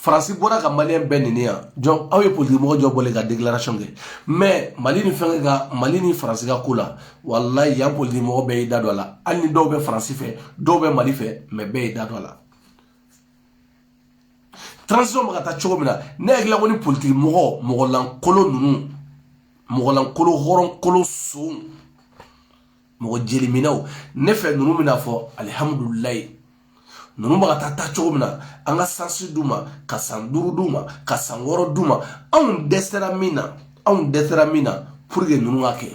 faransi bɔra ka maliyɛn bɛɛ nɛni yan jɔn aw ye politikimɔgɔ jɔn bɔlen ka declaration kɛ mɛ mali ni fɛnkɛ ka mali ni faransi ka ko la walayi yan politikimɔgɔ bɛɛ y'i da don a la hali ni dɔw bɛ faransi fɛ dɔw bɛ mali fɛ mɛ bɛɛ y'i da don a la transition bɛ ka taa cogo min na ne hakilila ko ni politikimɔgɔ mɔgɔlankolo ninnu mɔgɔlankolo hɔrɔnkolo sow mɔgɔ jeliminɛw ne fɛ ninnu bɛna fɔ alihamudulilayi ninnu bɛ ka taa taa cogo min na an ka sansi d'u ma ka san duuru d'u ma ka san wɔɔrɔ d'u ma anw dɛsɛra min na anw dɛsɛra min na pour que ninnu k'a kɛ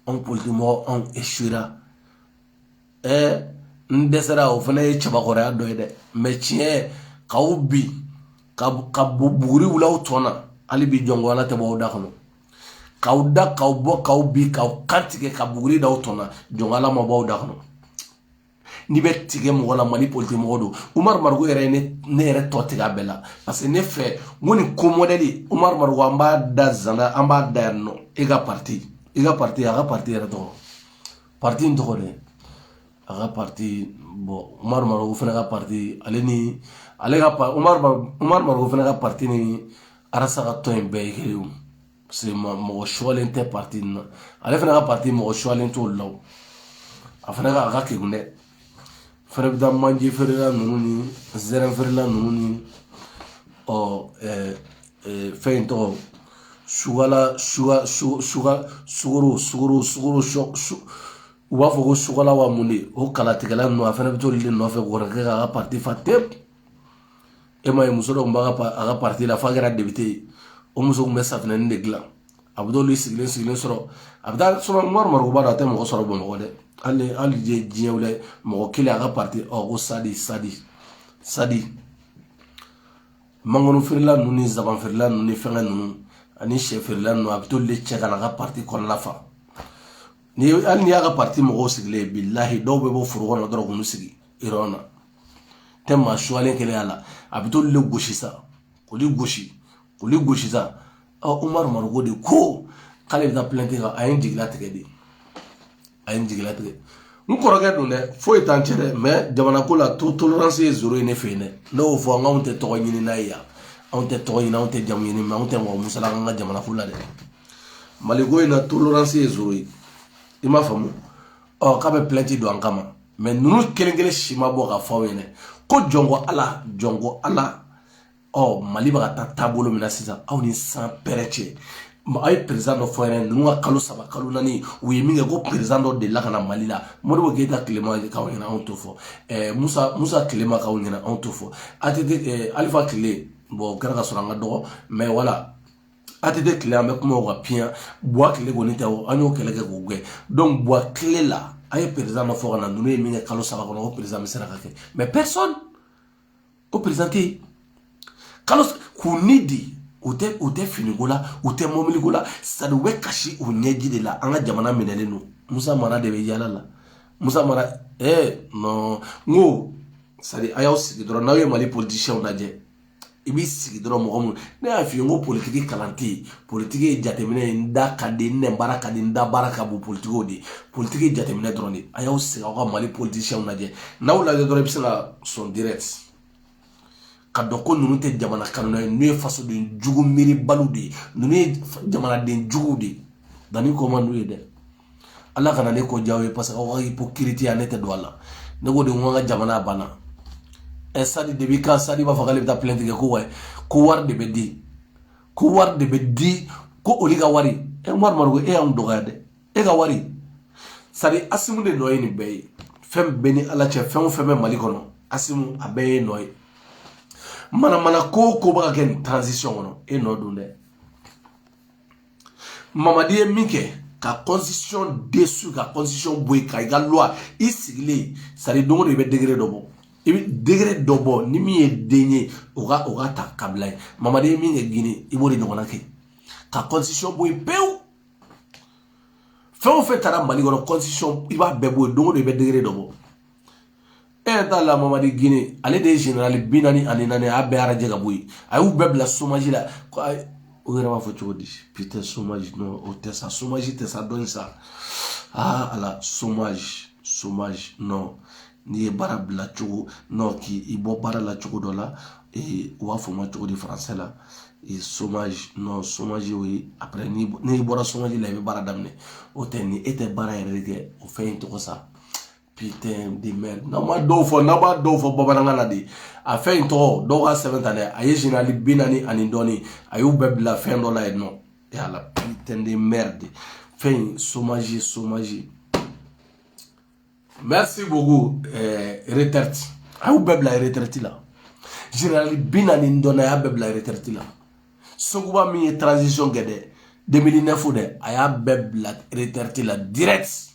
anw politikimɔgɔ anw esuwera ɛɛ n dɛsɛra o fana ye cɛbakɔrɔya dɔ ye dɛ mɛ tiɲɛ k'aw bin ka ka buguri wul'aw tɔn na hali bi jɔnko ala tɛ bɔ aw da kɔnɔ k'aw da k'aw bɔ k'aw bin k'aw kan tigɛ ka buguri da aw tɔn na jɔnko ala ma b'aw da kɔnɔ n'i bɛ tigɛ mɔgɔ la mali politikimɔgɔ dɔ umaru mariko yɛrɛ ye ne yɛrɛ tɔ tigɛ a bɛɛ la parce que ne fɛ n ko nin ko mɔdɛli umaru mariko an b'a da zana an b'a da yan nɔ e ka parti i ka parti a ka parti yɛrɛ tɔgɔ parti in tɔgɔ dɛ a ka pati bon umaru mariko fana ka pati umaru mariko fana ka pati ni arasa ka tɔn in bɛɛ ye kelen ye parce que mɔgɔ sulen tɛ pati na ale fana ka pati mɔgɔ sulen t'o la a fana ka a ka kekun dɛ fana bɛ taa manje feerela ninnu ni zɛrɛ feerela ninnu ni ɔ fɛn in tɔgɔ sugala suga sugoro sugoro sugoro sɔ u b'a fɔ ko sukala wa mun de o kalatigɛla ninnu a fana bɛ t'olu de nɔfɛ k'olu kɛ k'a ka parti fa tep e m'a ye muso dɔ tun b'a ka a ka parti la f'a kɛra depite ye o muso tun bɛ safinɛnin de dilan a bɛ t'olu sigilen sigilen sɔrɔ a bɛ t'a sɔrɔ umaru mariko abada a tɛ mɔgɔ sɔrɔ bamakɔ dɛ hali hali diɲɛ diɲɛ wɛrɛ mɔgɔ kelen a ka parti ɔ ko sadi sadi sadi mangoro feerela ninnu ni zaban feerela ninnu ni fɛngɛ ninnu ani sɛ feerela ninnu a bɛ t'olu de cɛ ka na a ka parti kɔnɔna fa ni hali n'i y'a ka parti mɔgɔw sigilen ye bilahi dɔw bɛ bɔ foro kɔnɔ dɔrɔn k'u sigi yɔrɔ na i tɛ maa suyalen kelen y'a la a bɛ t'olu le gosi sa k'olu gosi k'olu gosi sa ɔ umaru mariko de ko k'ale bɛ taa plainte kan a ye n jigilatigɛ dɛ a ye n jigilatigɛ n kɔrɔkɛ don dɛ foyi t'an cɛ dɛ mɛ jamanako la to tolerance ye zero ye ne fɛ yen dɛ ne y'o fɔ anw tɛ tɔgɔ ɲini n'a ye yan anw tɛ tɔgɔ ɲini anw tɛ jamu ɲini mɛ anw tɛ mɔgɔ musala an ka jamanako la dɛ maliko in na tolerance ye zero ye i m'a faamu ɔ k'a bɛ plainte don an kama mɛ ninnu kelen kelen si ma bɔ k'a fɔ aw ɲɛna ko jɔnko ala jɔnko ala ɔ mali bɛ ka taa taabolo min na sisan aw ni san pɛrɛ cɛ aw ye perezidan dɔ fɔ yɛrɛ ninnu ka kalo saba kalo naani u ye min kɛ ko perezidan dɔ delila ka na mali la modibo keyita tile ma k'aw ɲɛna anw t'o fɔ ɛɛ musa musa tile ma k'aw ɲɛna anw t'o fɔ atete ɛɛ alifa tile bon o kɛra ka sɔrɔ an ka dɔgɔ mɛ wala att tile an bɛ kuma o ka fisa buwa tile kɔni tɛ o an y'o kɛlɛ kɛ k'o gɛn buwa tile la an ye perezidan ma fɔ ka na ninnu ye min kɛ kalo saba kɔnɔ o perezidan bɛ se ka kɛ mais personne o perezidan tɛ yen ka lɔ k'u ni di u tɛ u tɛ finiko la u tɛ mɔbiliko la sani u bɛ kasi u ɲɛji de la an ka jamana minɛlen don musa mara de bɛ yala la musa mara ɛɛ nɔn n ko sadi a y'aw sigi dɔrɔn n'aw ye mali politisiyɛnw lajɛ i b'i sigi dɔrɔn mɔgɔ mun ne y'a f'i ye n ko politiki kalan tɛ yen politiki ye jateminɛ ye n da ka di n nɛn baara ka di n da barika ka bon politikiw de ye politiki ye jateminɛ dɔrɔn de ye a y'aw sigi aw ka mali politisiyɛnw lajɛ n'aw lajɛ dɔrɔn i bɛ se ka sɔn direct k'a dɔn ko ninnu tɛ jamana kanuna ye ninnu ye fasoden jugu miiribaliw de ye ninnu ye jamanaden juguw de ye donc ne ko man d'u ye dɛ ala kana ne ko diya aw ye parce que aw ka ipokiritiya ne tɛ don a la ne ko de ko an ka jamana banna ɛ sadi de bɛ ka sadi b'a fɔ k'ale bɛ taa plainte kɛ ko wa ko wari de bɛ di ko wari de bɛ di ko olu ka wari ɛ umaru mariko e y'anw dɔgɔya dɛ e ka wari sadi asimi de nɔ ye nin bɛɛ ye fɛn bɛɛ ni ala cɛ fɛn o fɛn bɛ mali kɔnɔ asimi a bɛɛ y'e nɔ ye manamana ko o ko bɛ ka kɛ nin transition kɔnɔ e nɔ don dɛ mamadi ye min kɛ ka constitution dissous ka constitution bɔ yen ka i ka loi i sigilen sari don o don i bɛ décret dɔ bɔ i bɛ décret dɔ bɔ ni min ye den ye o ka o ka ta ka bila yen mamadi ye min kɛ gine i b'o de ɲɔgɔnna kɛ ka constitution bɔ yen pewu fɛn o fɛn taara mali kɔnɔ constitution i b'a bɛɛ bɔ yen don o don i bɛ décret dɔ bɔ e yɛrɛ t'a la mamadi gine ale de ye generali bi naani ani naani a bɛɛ radier ka bɔ yen a y'u bɛɛ bila somaji la ko ayi o yɛrɛ b'a fɔ cogo di putain somaji non o tɛ sa somaji tɛ sa dɔɔni sa aa ala somaji somaji non n'i ye baara bila cogo non k'i bɔ baara la cogo dɔ la u b'a fɔ ma cogo di faransɛ la somaji non somaji o ye après n'i bɔra somaji la i bɛ baara daminɛ o tɛ ni e tɛ baara yɛrɛ de kɛ o fɛn in tɔgɔ sa putain de merde n'an ma dɔw fɔ n'an b'a dɔw fɔ bamanankan na de a fɛn in tɔgɔ dɔw k'a sɛbɛn ta dɛ a ye général bi naani ani dɔɔni a y'u bɛɛ bila fɛn dɔ la yen non e ala putain de merde fɛn in somaji somaji merci beaucoup eh, retraite a y'u bɛɛ bila retraite la général bi naani ni dɔɔni a y'a bɛɛ bila retraite la sekuba min ye transition kɛ dɛ 2009 dɛ a y'a bɛɛ bila retraite la direct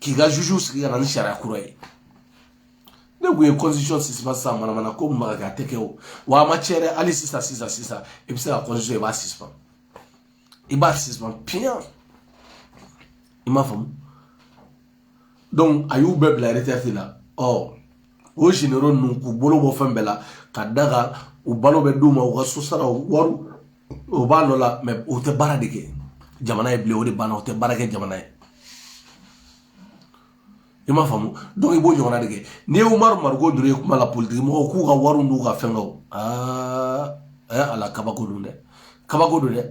k'i ka juge sigi ka na ni sariya kura ye ne kun ye constitution suspend sisan manamana ko mun b'a kɛ a tɛ kɛ o wa a ma tiɲɛ dɛ hali sisan sisan sisan i bɛ se ka constitution i b'a suspend i b'a suspend piyan i m'a faamu donc a y'u bɛɛ bila retraite la ɔ o généraux ninnu k'u bolo bɔ fɛn bɛɛ la ka da kan u balo bɛ d'u ma u ka so saraw wariw o b'a nɔ la mais o tɛ baara de kɛ jamana ye bilen o de banna o tɛ baara kɛ jamana ye i m'a faamu donc i b'o ɲɔgɔnna de kɛ n'i ye umaru mariko dɔrɔn ye kuma la politiki mɔgɔw k'u ka wariw n'u ka fɛnkɛw aa ɛ eh, ala kabako don dɛ kabako don dɛ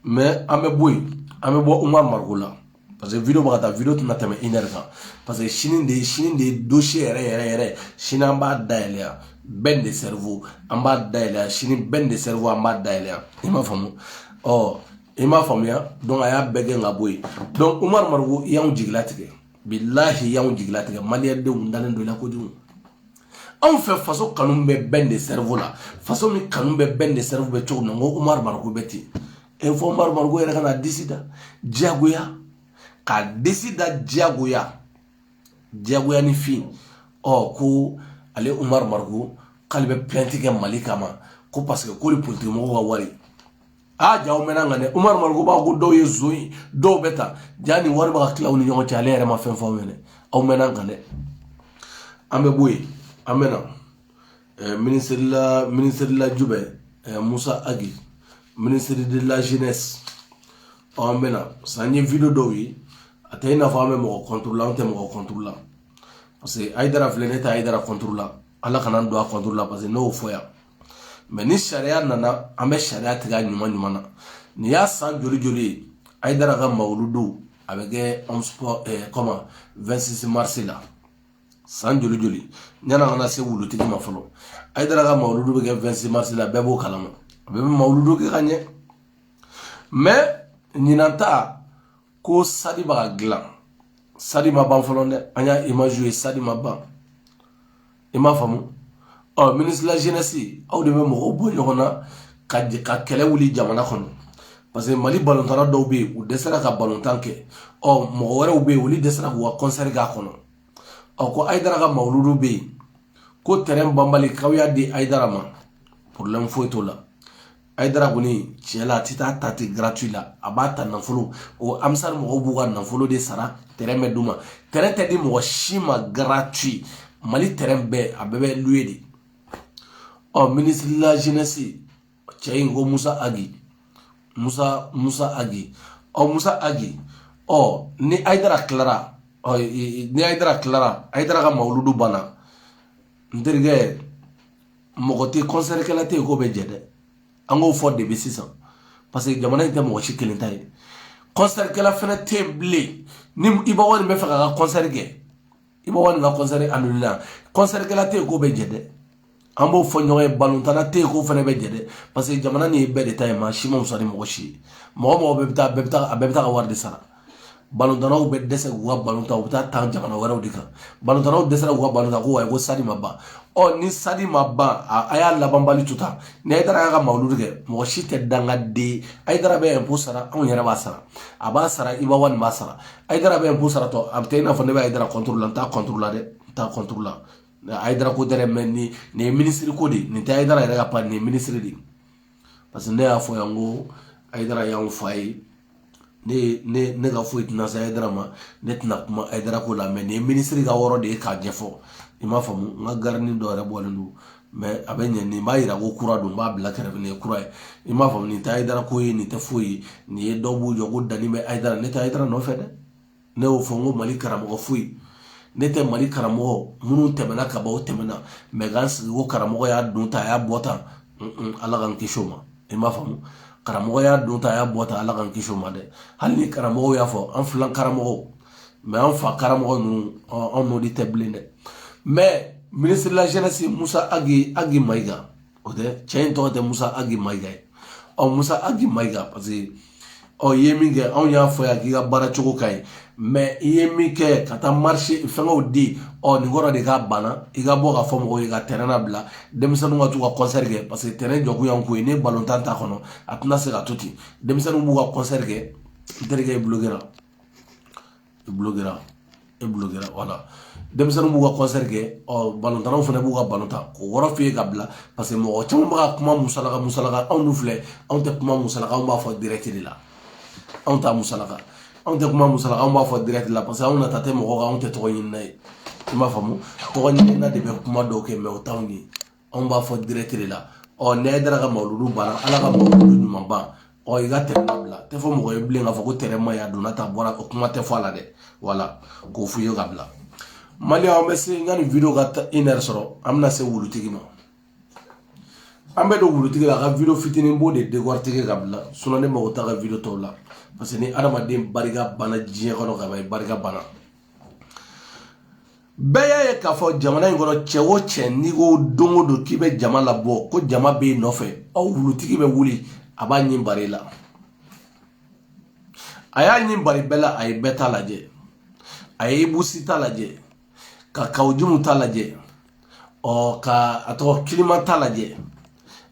mais an bɛ bɔ yen an bɛ bɔ umaru mariko la parce que video bɛ ka taa video tɛna tɛmɛ une heure kan parce que sini de sini de dossier yɛrɛ yɛrɛ yɛrɛ sini an b'a dayɛlɛ yan ben le cerveau an b'a dayɛlɛ yan sini ben le cerveau an b'a dayɛlɛ yan i m'a faamu ɔ i m'a faamuya donc a y'a bɛɛ gɛn ka bɔ yen donc umaru mariko i y'anw jigilatigɛ bilahi i y'anw jigilatigɛ maliyɛndenw dalen don i la kojugu anw fɛ faso kanu bɛ ben le cerveau la faso min kanu bɛ ben le cerveau bɛ cogo min na n ko umaru mariko bɛ ten fɔ umaru mariko yɛrɛ ka na disi da diyagoya ka disi da diyagoya diyagoya ni fin ɔ ko ale umaru mariko k'ale bɛ plainte kɛ mali kama ko parce que k'olu politikimɔgɔw ka wari aa ah, jaa aw mɛnna nin kan dɛ umaru mariko b'a ko dɔw ye zo ye dɔw bɛ ta jaa nin wari bɛ ka tila u ni ɲɔgɔn cɛ ale yɛrɛ ma fɛn fɔ aw ɲɛna aw mɛnna nin kan dɛ an bɛ bɔ yen an bɛ na eh, ministre de la ministre de la jubɛ eh, Musa Ag ministre de la jeunesse ɔ an bɛ na sa n ye video dɔw ye a tɛ i n'a fɔ an bɛ mɔgɔ contre la an tɛ mɔgɔ contre la parce que hayidara filɛ ne tɛ hayidara contre la ala kana n don a contre la parce que ne y'o fɔ yan mais ni sariya nana an bɛ sariya tigɛ a ɲuman ɲuman na nin y'a san joli joli ye hayidara ka mawuludu a bɛ kɛ comment 26 mars la san joli joli ɲana an kana se wulutigi ma fɔlɔ hayidara ka mawuludu bɛ kɛ 26 mars la bɛɛ b'o kalama a bɛ mawuludu kɛ ka ɲɛ mais ɲinan ta ko stade bɛ ka dilan stade ma ban fɔlɔ dɛ an y'a imaziw ye stade ma ban i m'a faamu ɔ ministre de la jeunesse aw de bɛ mɔgɔw bɔ ɲɔgɔn na ka ka kɛlɛ wuli jamana kɔnɔ parce que mali balontanna dɔw bɛ yen u dɛsɛra ka balontan kɛ ɔ mɔgɔ wɛrɛw bɛ yen olu dɛsɛra k'u ka concert k'a kɔnɔ ɔ ko hayidara ka mawuludu bɛ yen ko terrain banbali k'aw y'a di hayidara ma problème foyi t'o la hayidara kɔni tiɲɛ la a tɛ t'a ta ten gratuit la a b'a ta nafolo o ansari mɔgɔw b'u ka nafolo de sara terrain bɛ d'u ma terrain tɛ di mɔgɔ si ma gratuit mali terrain bɛɛ a bɛɛ bɛ loué de ɔ ministre de la jeunesse cɛ in ko musa agi musa musa agi ɔ musa agi ɔ ni ayidara tilara ɔ ni ayidara tilara ayidara ka mawuludu banna n terikɛ mɔgɔ tɛ kɔnsɛrikɛla tɛ yen k'o bɛ jɛ dɛ an k'o fɔ depuis sisan parce que jamana in tɛ mɔgɔ si kelen ta ye kɔnsɛrikɛla fana tɛ yen bilen ni iba wani b'a fɛ k'a ka kɔnsɛri kɛ iba wani ka kɔnsɛri annulé kɔnsɛrikɛla tɛ yen k'o bɛ jɛ dɛ an b'o fɔ ɲɔgɔn ye balontanna tɛ yen k'o fana bɛ jɛ dɛ parce que jamana nin ye bɛɛ de ta ye maa si ma fisa ni mɔgɔ si ye mɔgɔ mɔgɔ bɛɛ bɛ taa bɛɛ bɛ taa a bɛɛ bɛ taa ka wari de sara balontannaw bɛ dɛsɛ k'u ka balon tan u bɛ taa tan jamana wɛrɛw de kan balontannaw dɛsɛra k'u ka balon tan ko wayi ko stade ma ban ɔ ni stade ma ban a y'a labanbali to tan ni ayidara y'a ka mawuludi kɛ mɔgɔ si tɛ dangaden ayidara bɛ impôt sara anw yɛrɛ b'a sara a b'a sara iba wani b'a sara ayidara bɛ impôt sara donc a bɛ kɛ i n'a fɔ ne bɛ ayidara la n t'a la dɛ n t'a la ayidara ko tɛ dɛ mɛ nin nin ye minisiri ko de ye nin tɛ ayidara yɛrɛ ka pa nin ye minisiri de ye parce que ne y'a fɔ yan ko ayidara y'anw fa ye ne ne ne ka foyi tɛna se ayidara ma ne tɛna kuma ayidara ko la mɛ nin ye minisiri ka yɔrɔ de ye k'a ɲɛfɔ i m'a faamu n ka garini dɔ yɛrɛ bɔlen don mɛ a bɛ ɲɛ nin b'a yira ko kura don b'a bila kɛrɛfɛ nin ye kura ye i m'a faamu nin tɛ ayidara ko ye nin tɛ foyi ye nin ye dɔw b'u jɔ ko danni bɛ ayidara ne tɛ ayidara nɔfɛ dɛ ne y'o fɔ n ko mali karamɔgɔ foyi ne tɛ mali karamɔgɔ minnu tɛmɛna kaban o tɛmɛna mɛ k'an sigi ko karamɔgɔ y'a don tan a y'a bɔ tan ala k'an kisi o ma i m'a faamu karamɔgɔ y'a don tan a y'a bɔ tan ala k'an kisi o ma dɛ hali ni karamɔgɔw y'a fɔ an filan karamɔgɔw mɛ an fa karamɔgɔ ninnu anw n'o de tɛ bilen dɛ mɛ minisiri de la jeunesse musa agi mayiga o tɛ cɛ in tɔgɔ tɛ musa agi mayiga ye ɔ musa agi mayiga parce que ɔ i ye min kɛ anw y'a fɔ yan k'i ka baara cogo ka ɲi mɛ i ye min kɛ ka taa marché fɛngɛw di ɔ nin kɔrɔ de k'a banna i ka bɔ k'a fɔ mɔgɔw ye ka tɛrɛn nabila denmisɛnninw ka t'u ka kɔnsɛri kɛ parce que tɛrɛn jɔkun y'an ko ye ni balontan t'a kɔnɔ a tɛna se ka to ten denmisɛnninw b'u ka kɔnsɛri kɛ n terikɛ i bulokera i bulokera e bulokera wala denmisɛnninw b'u ka kɔnsɛri kɛ ɔ balontannaw fana b'u ka balon tan k'o wɔrɔ f'i ye ka bila paseke mɔgɔ caman bɛ ka kuma musalaka musalaka anw dun filɛ anw tɛ kuma musalaka anw b'a fɔ dirɛti de la anw t'a musalaka anw tɛ kuma musalaka anw b'a fɔ dirɛti la paseke anw nata tɛ mɔgɔ kan anw tɛ tɔgɔɲinina ye i m'a faamu tɔgɔɲinina de bɛ kuma dɔw kɛ mɛ o t'anw ye anw b'a fɔ direct de la ɔ ni ayidara ka mawuludu banna ala ka mawuludu ɲuman ban ɔ i ka tɛrɛn labila tɛ fɔ mɔgɔ ye bilen k'a fɔ ko tɛrɛn ma ɲa donna tan bɔra o kuma tɛ fɔ a la dɛ wala k'o f'u ye ka bila mali an bɛ se n ka nin video ka taa une heure sɔrɔ an bɛna se wulutigi ma an bɛ don wulutigi la a ka video fitinin bɔ dekɔritigi ka bila sinɔn ne mago t'a ka video tɔw la parce que ni adamaden barika banna diɲɛ kɔnɔ ka ban i barika banna bɛɛ y'a ye k'a fɔ jamana in kɔnɔ cɛ o cɛ n'i ko don o don k'i bɛ jama labɔ ko jama b'i nɔfɛ aw wulutigi bɛ wuli a b'a ɲin bari i la a y'a ɲin bari bɛɛ la a ye bɛɛ ta lajɛ a ye ibu si ta lajɛ ka kawu jimu ta lajɛ ɔ ka a tɔgɔ kilima ta lajɛ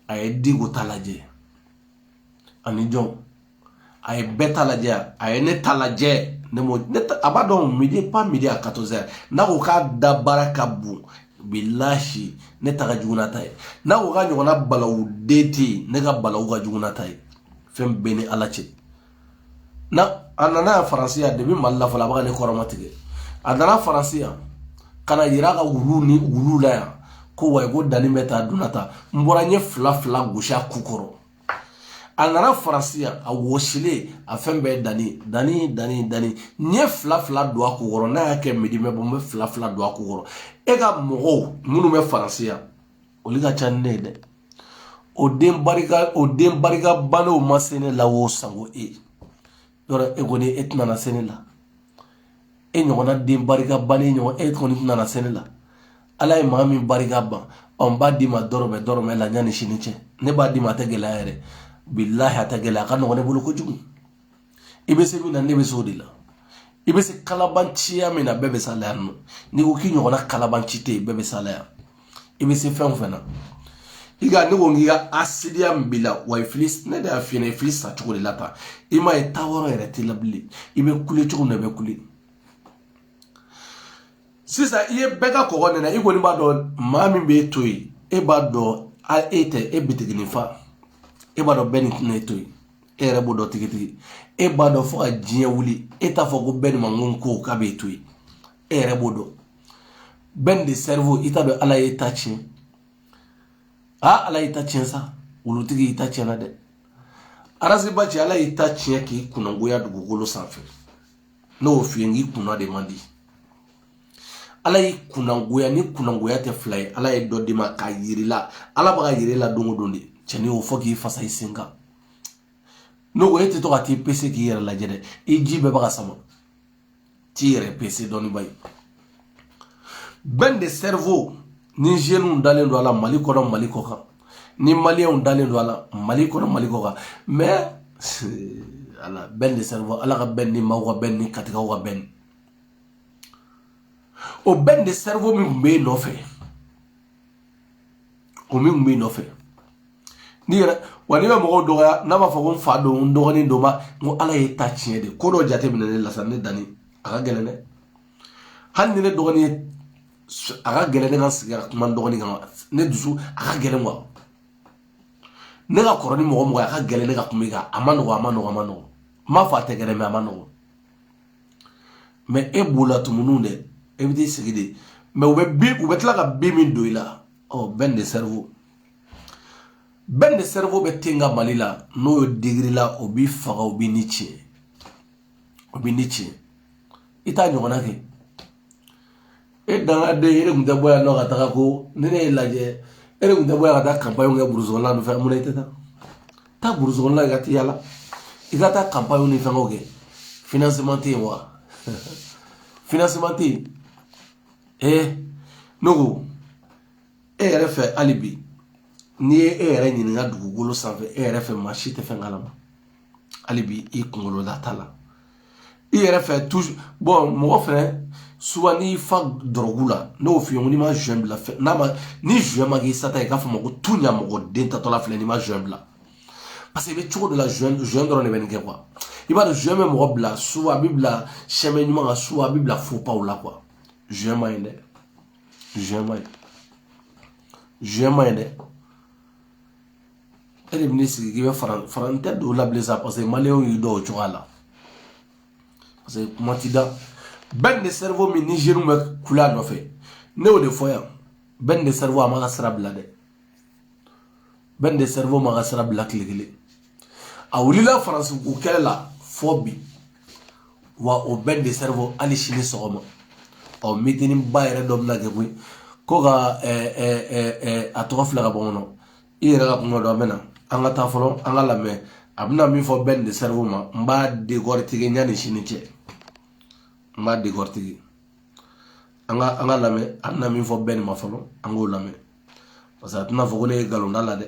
a ye diko ta lajɛ ani jɔn a ye bɛɛ ta lajɛ a ye ne ta lajɛ ne m'o ne ta a b'a dɔn midi pas midi à 14 heures n'a ko k'a da baara ka bon bilahi ne ta ka jugu n'a ta ye n'a ko k'a ɲɔgɔnna balawu den tɛ yen ne ka balawu ka jugu n'a ta ye fɛn bɛɛ ni ala cɛ na a nana yan faransi yan depuis mali la fɔlɔ a bɛ ka ne kɔrɔmatigɛ a nana faransi yan ka na yira ka wulu ni wulu la yan ko wayi ko danni bɛ taa donna ta n bɔra n ye fila fila gosi a ku kɔrɔ a nana faransi yan a wɔsilen a fɛn bɛɛ danni danni danni danni n ye fila fila don a ku kɔrɔ n'a y'a kɛ midi mɛ bɔ n bɛ fila fila don a ku kɔrɔ e ka mɔgɔw minnu bɛ faransi yan olu ka ca ni ne ye dɛ o den barika o den barika bannenw ma se ne la o sango e yɔrɔ e kɔni e tɛna na se ne la e ɲɔgɔnna den barika bannen ɲɔgɔn e kɔni tɛna na se ne la ala ye maa min barika ban ɔ n b'a d'i ma dɔrɔmɛ dɔrɔmɛ la yanni sini cɛ ne b'a d'i ma a tɛ gɛlɛya yɛrɛ bilahi a tɛ gɛlɛya a ka nɔgɔn ne bolo kojugu i bɛ se min na ne bɛ se o de la i bɛ se kalabanciya min na bɛɛ bɛ s'a la yan nɔ n'i ko k'i ɲɔgɔnna kalabanci tɛ yen bɛɛ bɛ s'a la yan i bɛ se fɛn o fɛn na i ka ne ko k'i ka hasidiya min b'i la wa i fili ne de y'a f'i ɲɛna i fili sa cogo de la tan i m'a ye taa yɔrɔ yɛrɛ t'i la bilen i bɛ kule cogo min na i bɛ kule sisan i ye bɛɛ ka kɔgɔ nɛnɛ i kɔni b'a dɔn maa min b'e to yen e b'a dɔn a e tɛ e bitiginin fa e b'a dɔn bɛni tɛna e to yen e yɛrɛ b'o dɔn tigitigi e b'a dɔn fo ka diɲɛ wuli e t'a fɔ ko bɛni ma ko n ko k'a b'e to yen e yɛrɛ b'o dɔn bɛn de cerveau i t'a dɔn ala y'i ta tiɲɛ aa ala y'i ta tiɲɛ sa wulutigi y'i ta tiɲɛna dɛ araseba cɛ ala y'i ta tiɲɛ k'i kunnagoya dugukolo sanfɛ n'o f'i ye n k'i kunna de man di ala y'i kunnagoya ni kunnagoya tɛ fila ye ala ye dɔ d'i ma k'a yir'i la ala b'a ka yir'i la don o don de cɛni o fɔ k'i fasa i sen kan n'o o e tɛ to ka t'i pese k'i yɛrɛ lajɛ dɛ i ji bɛɛ bɛ ka sama t'i yɛrɛ pese dɔɔni ba ye bɛn de cerveau ni jeunes dalen don a la mali kɔnɔ mali kɔ kan ni maliyɛnw dalen don a la mali kɔnɔ mali kɔ kan mais ala bɛn de cerveau ala ka bɛn ni maaw ka bɛn ni katikaw ka bɛn o bɛn de cerveau min tun bɛ e nɔfɛ o min kun b'i nɔfɛ n'i yɛrɛ wa n'i bɛ mɔgɔw dɔgɔya n'a b'a fɔ ko n fa don n dɔgɔnin don ma n ko ala ye ta tiɲɛ de ko dɔ jateminɛ ne la sa ne danni a ka gɛlɛn dɛ hali ni ne dɔgɔnin ye a ka gɛlɛn ne ka sigi ka kuma n dɔgɔnin kan ne dusu a ka gɛlɛn wa ne ka kɔrɔ ni mɔgɔ mɔgɔ ye a ka gɛlɛn ne ka kuma i kan a ma nɔgɔ a ma nɔgɔ a ma nɔgɔ n m'a fɔ a tɛ gɛlɛn mɛ a ma nɔgɔ mɛ e b'o la tumuninw dɛ e bɛ t'i sigi de mɛ u bɛ bin u bɛ tila ka bin min don i la ɔ bɛn de sɛriwo bɛn de sɛriwo bɛ ten ka mali la n'o ye digiri la o b'i faga o b'i ni tiɲɛ o b'i ni tiɲɛ i t'a ɲɔgɔnna kɛ e dangaden e yɛrɛ kun tɛ bɔ yan nɔ ka taga ko ni ne ye lajɛ e yɛrɛ kun tɛ bɔ yan ka taa kanpaɲɛw kɛ burusi kɔnɔna ni fɛn mun na i tɛ taa taa burusi kɔnɔna i ka t'i yala i ka taa kanpaɲɛw ni fɛngɛw kɛ finansema tɛ yen wa finansema tɛ yen ee ne ko e yɛrɛ fɛ hali bi n'i ye e yɛrɛ ɲininka dugukolo sanfɛ e yɛrɛ fɛ maa si tɛ fɛn kalama hali bi i kunkolo da t'a la i yɛrɛ fɛ mon frère souvent n'i fa dɔrɔgu la n'o f'i ye ko n'i ma zɔn bila n'a ma ni zɔn ma k'i sata i k'a fɔ ma ko tuɲa mɔgɔ den tatɔla filɛ n'i ma zɔn bila paseke i bɛ cogo dɔ la zɔn zɔn dɔrɔn de bɛ nin kɛ i b'a dɔn zɔn bɛ mɔgɔ bila soit a b'i bila chemin ɲuman kan soit a b'i bila fopaw la zɔn ma ɲi dɛ zɔn ma ɲi zɔn ma ɲi dɛ e de bɛ ne sigi k'i bɛ fara fara n tɛ don o la bilen sa paseke maliyɛnw y'i dɔn cogoya la paseke kuma ti da bɛn de sɛriwo min nizɛriw bɛ kule a nɔfɛ ne y'o de fɔ yan bɛn de sɛriwo a m'a ka sira bila dɛ bɛn de sɛriwo m'a ka sira bila tile kelen a wulila faransi ko kɛlɛ la fo bi wa o bɛn de sɛriwo hali sini sɔgɔma ɔ mitiniba yɛrɛ dɔ bɛna kɛ koyi ko ka a tɔgɔ fila ka bɔ kɔnɔ i yɛrɛ ka kuma dɔ an bɛ na an ka taa fɔlɔ an k'a lamɛn a bɛna min fɔ bɛn de sɛriwo ma n b'a dekɔritike ɲani sini cɛ n b'a dekɔritike an ka an k'a lamɛn a bɛna min fɔ bɛn ma fɔlɔ an k'o lamɛn parce que a tɛna fɔ ko ne ye nkalon d'a la dɛ